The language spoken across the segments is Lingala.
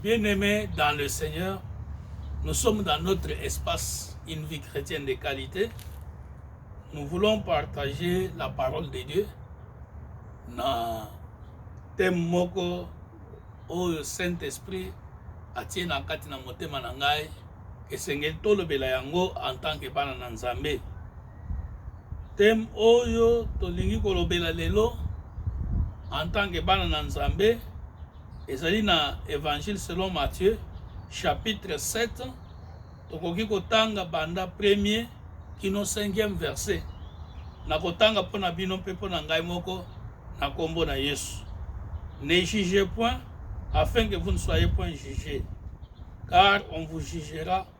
Bien aimé dans le Seigneur, nous sommes dans notre espace, une vie chrétienne de qualité. Nous voulons partager la parole de Dieu na thème moko oyo Saint-Esprit atie na kati na motema na ngai esengeli tolobela yango en tant que bana na Nzambe. Thème oyo tolingi kolobela lelo en tant que bana na Nzambe Ezali na Evangile selon Matthieu chapitre 7 tokoki kotanga banda premier kino cinquième verset nakotanga mpo na bino mpe mpo na ngai moko na nkombo na Yesu. Ne jugez point afin que vous ne soyez point jugés, car on vous jugera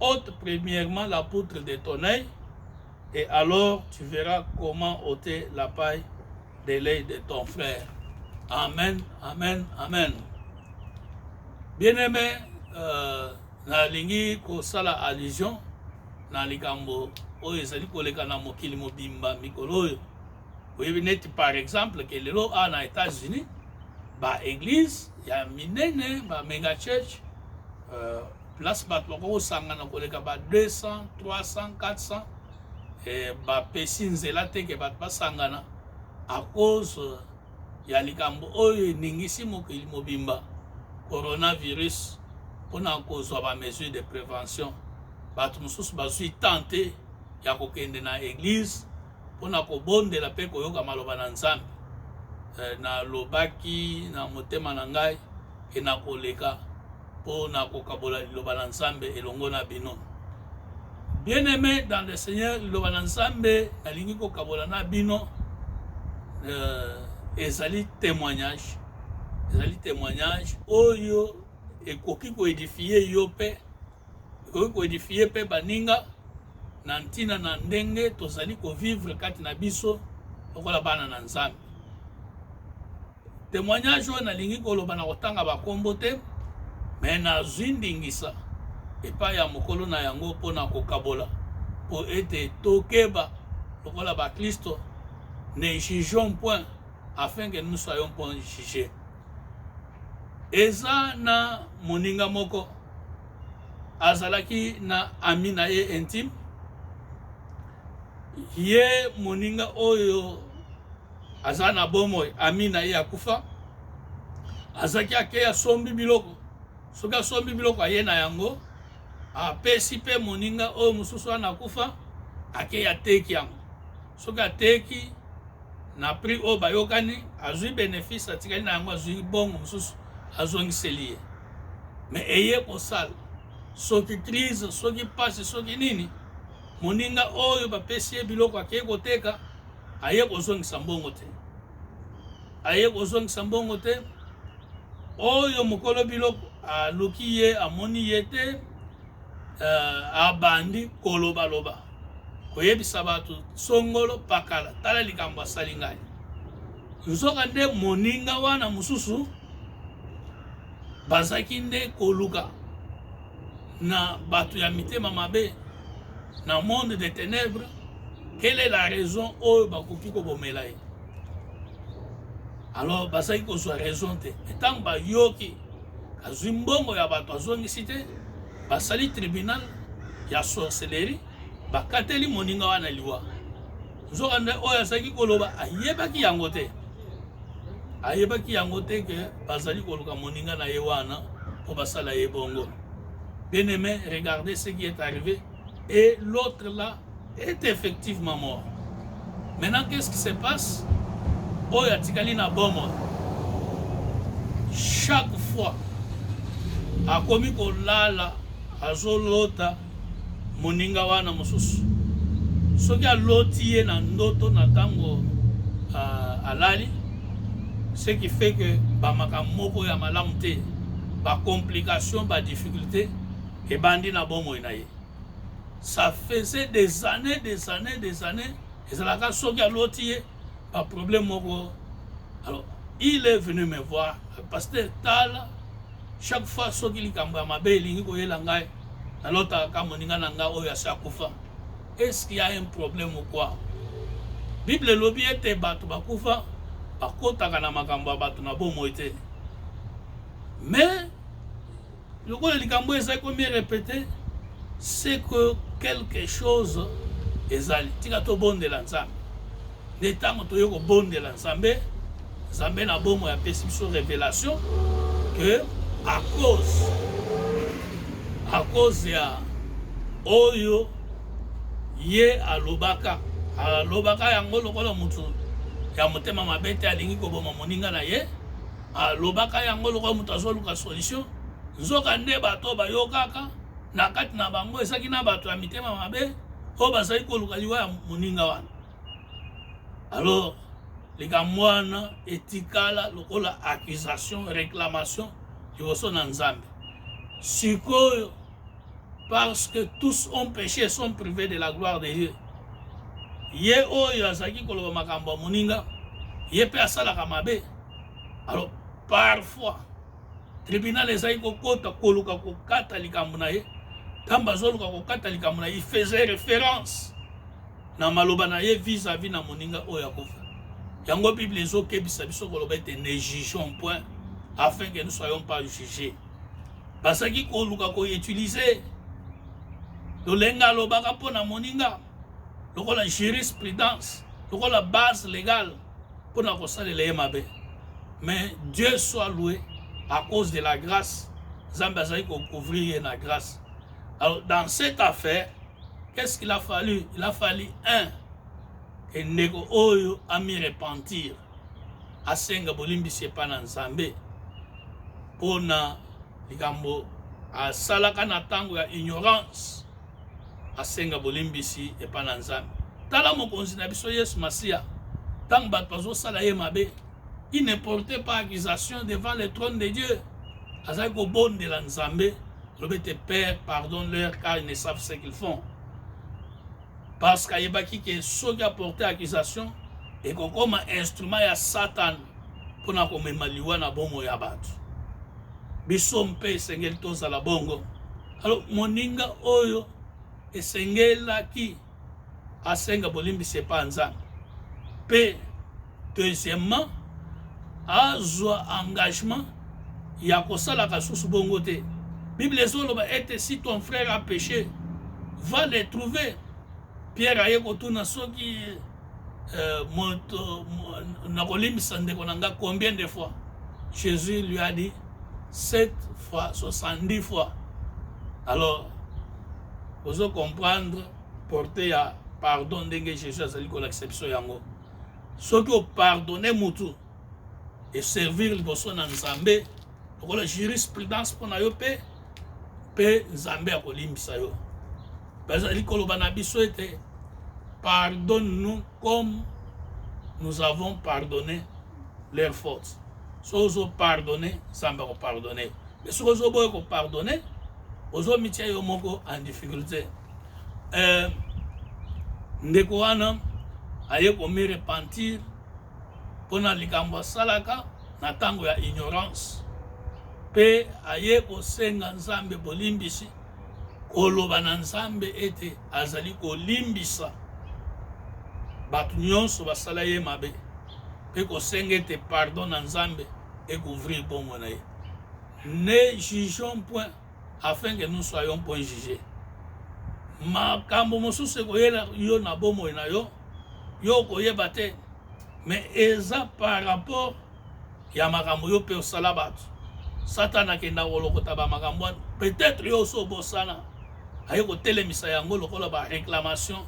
ôte premièrement la poutre de ton œil et alors tu verras comment ôter la paille de l'œil de ton frère. Amen, amen, amen. Bien-aimé, euh, nalingi kosala allusion na likambo oyo ezali koleka na mokili mobimba mikolo oyo oyebi neti par exemple ke lelo awa na états-unis baeglise ya minene ba mega church euh, place bato bakoki kosangana koleka ba 200 300 400 eh, bapesi nzela te ke bato basangana à cause ya likambo oyo eningisi mokili mobimba coronavirus mpona kozwa ba mesure de prévention bato mosusu bazwi temps te ya kokende na eglise mpo na kobondela mpe koyoka maloba na Nzambe. Eh, nalobaki na motema na ngai ke nakoleka mpo na kokabola liloba na Nzambe elongo na bino. Bien aime dans le Seigneur, liloba na Nzambe nalingi kokabola na bino eh, ezali témoignage, ezali témoignage oyo ekoki koedifie yo mpe Ekoki ko edifier pe baninga na ntina na ndenge tozali ko vivre kati na biso lokola bana na Nzambe. Temoignage oyo nalingi koloba na kotanga bakombo te me nazwi ndingisa epai ya mokolo na yango mpo na kokabola mpo ete tokeba lokola baklisto ne jugeons point afin que nous soyons point juge eza na moninga moko azalaki na ami na ye intime ye moninga oyo aza na bomoi ami na ye akufa azalaki ake asombi biloko soki asombi biloko aye na yango apesi mpe moninga oyo mosusu wana akufa ake ateki yango soki ateki na prix oyo bayokani azwi benefice atikali na yango azwi bongo mosusu azongiseli ye me eye kosala soki crise soki pasi soki nini moninga oyo bapesi ye biloko akei koteka aye kozongisa mbongo te aye kozongisa mbongo te oyo mokolo biloko aluki ye amoni ye te uh, abandi kolobaloba koyebisa bato songolo pakala tala likambo asali ngai nzoka nde moninga wana mosusu bazalaki nde koluka na bato ya mitema mabe na monde de ténèbres quelle est la raison oyo bakoki kobomela ye alors bazalaki kozwa raison te ntango bayoki azwi mbongo ya bato azongisi te basali tribunal ya sorcellerie Bakateli moninga wana liwa. Nzokande oyo azalaki koloba ayebaki yango te, ayebaki yango te ke bazali koluka moninga na ye wana mpo basala ye bongo. Bien aimé, regardez ce qui est arrivé et l'autre là est effectivement mort. Maintenant, qu'est-ce qui se passe? Oyo atikali na bomoi chaque fois akomi kolala azolota moninga wana mosusu soki aloti ye na ndoto na tango uh, alali ce qui fait que ba makambo moko ya malamu te ba complications ba difficultés ebandi na bomoi na ye ça faisait des années des années des années ezalaka soki aloti ye ba problème moko alors il est venu me voir pasteur tala chaque fois soki likambo ya mabe elingi koyela ngai nalotaka ka moninga na ngai oyo asi akufa est ce qu'il y a un problème ou quoi bible elobi ete bato bakufa bakotaka na makambo ya bato na bomoi te mais Lokola likambo oyo ezali ko mi repeter, c'est que quelque chose ezali. Tika tobondela Nzambe. Nde ntango toye kobondela Nzambe, Nzambe na bomoi apesi biso revelation que à cause à cause ya oyo ye alobaka alobaka yango lokola motu ya motema mabe te alingi koboma moninga na ye Alobaka yango lokola moto azoluka solution, nzoka nde bato oyo bayokaka na kati na bango ezalaki na bato ya mitema mabe oyo bazali koluka liwa ya moninga wana. Alors likambo wana etikala lokola accusation, reclamation liboso na Nzambe. Sikoyo Parce que tous ont peche et sont privés de la gloire de Dieu. Ye oyo azalaki koloba makambo ya moninga, ye mpe asalaka mabe. Alors, parfois, tribunal ezalaki kokota koluka kokata likambo na ye. Ntango bazoluka kokata likambo na ye, il faisait référence na maloba na ye vis-à-vis na moninga oyo akufa. Yango Bible ezokebisa biso koloba ete ne jugeons point afin que nous soyons pas jugés. bazalaki koluka koutilize lolenga alobaka mpo na moninga lokola jurisprudence lokola base légale mpo na kosalela ye mabe mais dieu soit loué à cause de la grâce nzambe azali kocouvrir ye na grâce alors dans cette affaire qu'est-ce qu'il a fallu il a fallu un que ndeko oyo ami repentir asenga bolimbisi epai na Nzambe mpo na likambo asalaka na ntango ya ignorance, asenga bolimbisi epai na Nzambe. Tala mokonzi na biso Yesu Masiya, ntango bato bazosala ye mabe, il ne portait pas accusation devant le trône de Dieu. Azali kobondela Nzambe, lobi te Père, pardonne-leur car ils ne savent ce qu'ils font. Parce qu'ayebaki que soki a porter accusation ekokoma instrument ya Satan pona komema liwa na bomo ya bato. Biso mpe esengeli tozala bongo. Alors moninga oyo esengelaki asenga bolimbisi epa Nzambe mpe Deuxièmement, azwa engagement ya kosalaka susu bongo te. Bible ezoloba ete si ton frère a péché, va le trouver. Pierre aye kotuna soki euh, moto nakolimbisa ndeko na nga combien de fois? Jésus lui a dit 7 fois 70 fois. Alors, ozo comprendre portée ya pardon ndenge Jésus azali kolakisa biso yango. soki o pardonner mutu e servir liboso na Nzambe lokola jurisprudence mpo na yo mpe mpe Nzambe akolimbisa yo. Bazali koloba na biso ete pardonne-nous comme nous avons pardonné leur faute. Soki ozo pardonner, Nzambe akopardonner. Mais soki ozoboya kopardonner, ozomitia yo moko en difficulté. eh, ndeko wana aye komi repentir mpo na likambo asalaka na ntango ya ignorance mpe aye kosenga nzambe bolimbisi koloba na nzambe ete azali kolimbisa bato nyonso basala ye mabe mpe kosenga ete pardon na nzambe ekouvrir bongo na ye ne jugeons point afin que nous soyons point juge makambo mosusu ekoyela yo na bomoi na yo yo okoyeba te mais eza par rapport ya makambo yo mpe osala bato satana akenda kolokota bamakambo wana peut-être yo osi obosana aye kotelemisa yango lokola baréclamation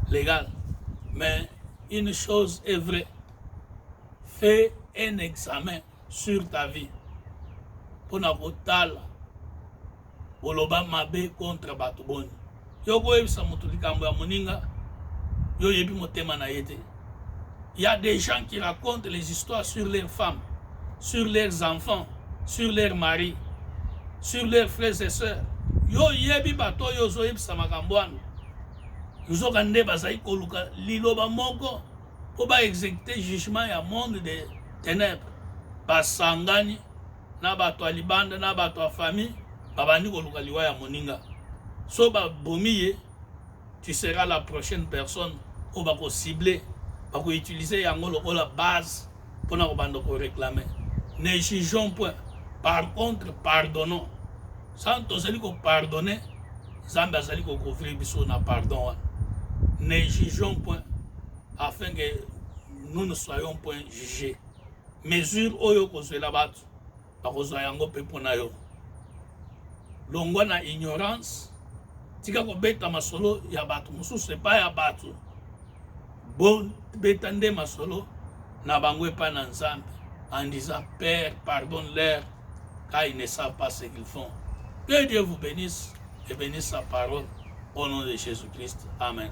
légale mais une chose est vraie fait un examen sur ta vie mpona kotala oloba mabe contre bato boni yo koyebisa moto likambo ya moninga yo oyebi motema na ye te ya des gens qui racontent les histoires sur leurs femmes sur leurs enfants sur leurs maris sur leurs frères et sœurs yo oyebi bato oyo ozoyebisa makambo wana nzoka nde bazali koluka liloba moko po ba execute jugement ya monde de tenèbres basangani na bato ya libanda na bato ya famille babandi koluka liwa ya moninga so babomi ye tu seras la prochaine personne oyo bakocible bakoutilize yango lokola base pona kobanda ko reclamer ne jugeons point par contre pardonnons sans tozali ko pardonner nzambe azali ko couvrir biso na pardon wana ne jugeons point afin que nous ne soyons point jugés mesure oyo kozwela bato bakozwa yango mpe mpo na yo longwa na ignorance tika kobeta masolo ya bato mosusu epai ya bato bobeta nde masolo na bango epai na nzambe en disant père pardonne leur car ils ne savent pas ce qu'ils font que dieu vous bénisse et bénisse sa parole au nom de jésus christ amen